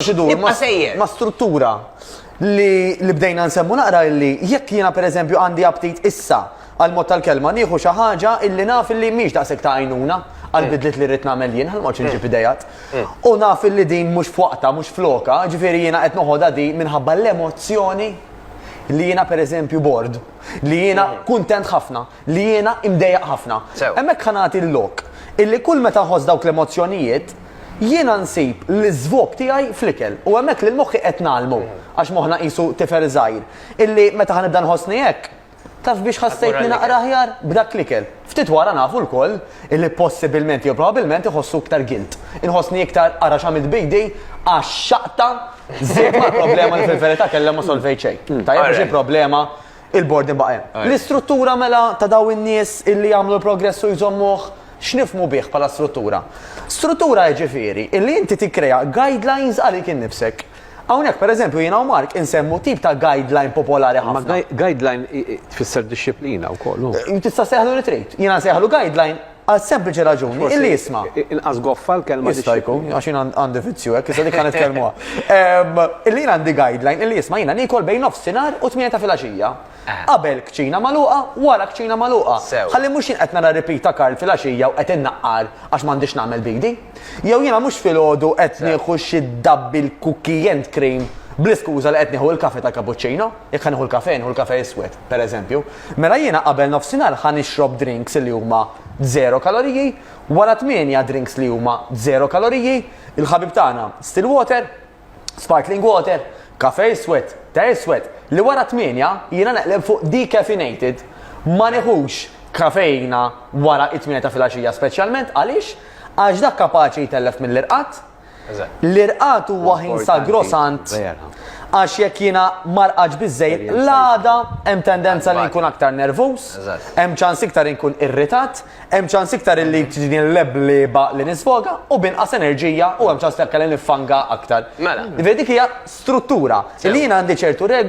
Ibqa' sejjer. Ma' struttura li li bdejna nsemmu naqra illi jekk jiena pereżempju għandi aptit issa għal mod tal-kelma nieħu xi ħaġa illi naf illi mhix daqshekk ta' għajnuna għal mm. bidliet li rrid nagħmel jien ħalma ċinġi mm. f'idejat. Mm. U naf illi din mhux f'waqta, mhux floka, ġifieri jiena qed noħodha di minħabba l-emozzjoni li jiena pereżempju bord, li jiena kuntent ħafna. li jiena imdejjaq ħafna. Sew. Hemmhekk ħa nagħti l-lok illi kull meta nħoss dawk l-emozzjonijiet, jiena nsib l-iżvog tiegħi fl-ikel. U hemmhekk lil moħħi qed ngħallmu, għax moħħna qisu tifel żgħir, illi meta ħa nibda nħossni hekk, taf biex ħassejtni naqra aħjar? B'dak l-ikel. Ftit wara nafu lkoll illi possibilment jew probabbilment iħossu iktar guilt. Inħossni iktar ara x'għamilt b'idi għax xaqta żidt mal-problema li fil-verità kellha ma solvejt xejn. Tajjeb biex il-problema Il-bord imbagħad hemm. Ajja. L-istruttura mela ta' dawn in-nies illi jagħmlu l-progress u jżommuh, x'nifhmu bih bħala struttura? Struttura jiġifieri illi inti tikkrea guidelines għalik innifsek. Hawnhekk pereżempju jiena u Mark insemmu tip ta' guideline popolari Imma ħafna. guide- guideline i- i- tfisser dixxiplina wkoll, u? Tista' ssejħlu li trid. Jiena nsejħlu guideline Għal sempliċi raġuni, illi jisma. Inqas goffa l-kelma. Jista' jkun, għax jina għandi vizzju, għek, jista' dikan it-kelmuha. Illi jina għandi guideline, illi jisma jina nikol bejn nofsinar u tmieta fil-axija. Eh. Qabel kċina maluqa, wara kċina maluqa. Għalli mux jinqet nara ripita Karl fil-axija u qed innaqqar għax m'għandix nagħmel bidi. Jew jina mux fil-ħodu qed nieħu xi dabbi l-kukkijent cream bl-iskuża li qed nieħu l-kafe ta' cappuccino, jekk nieħu l-kafe, nieħu l-kafe iswed. per eżempju, mela jiena qabel nofsinhar ħa nixrob drinks li huma zero kaloriji, wara tmienja drinks li huma zero kaloriji, il-ħabib tagħna still water, sparkling water, kafe iswed, te iswed, li wara tmienja jiena neqleb fuq decaffeinated. Ma nieħux kafeina wara t-tmienja ta' filgħaxija speċjalment għaliex? Għax dak kapaċi jtellef mill-irqad, L-irqad huwa ħin sagrosant għax jekk jiena marqaġ biżejjed l-għada hemm tendenza li nkun aktar nervuż, hemm ċans iktar inkun irritat, hemm ċans iktar li tiġini l-leblieba li nisfoga u b'inqas enerġija u hemm ċans li anke li niffanga aktar. Mela. Dik hija struttura li jiena għandi ċertu regoli.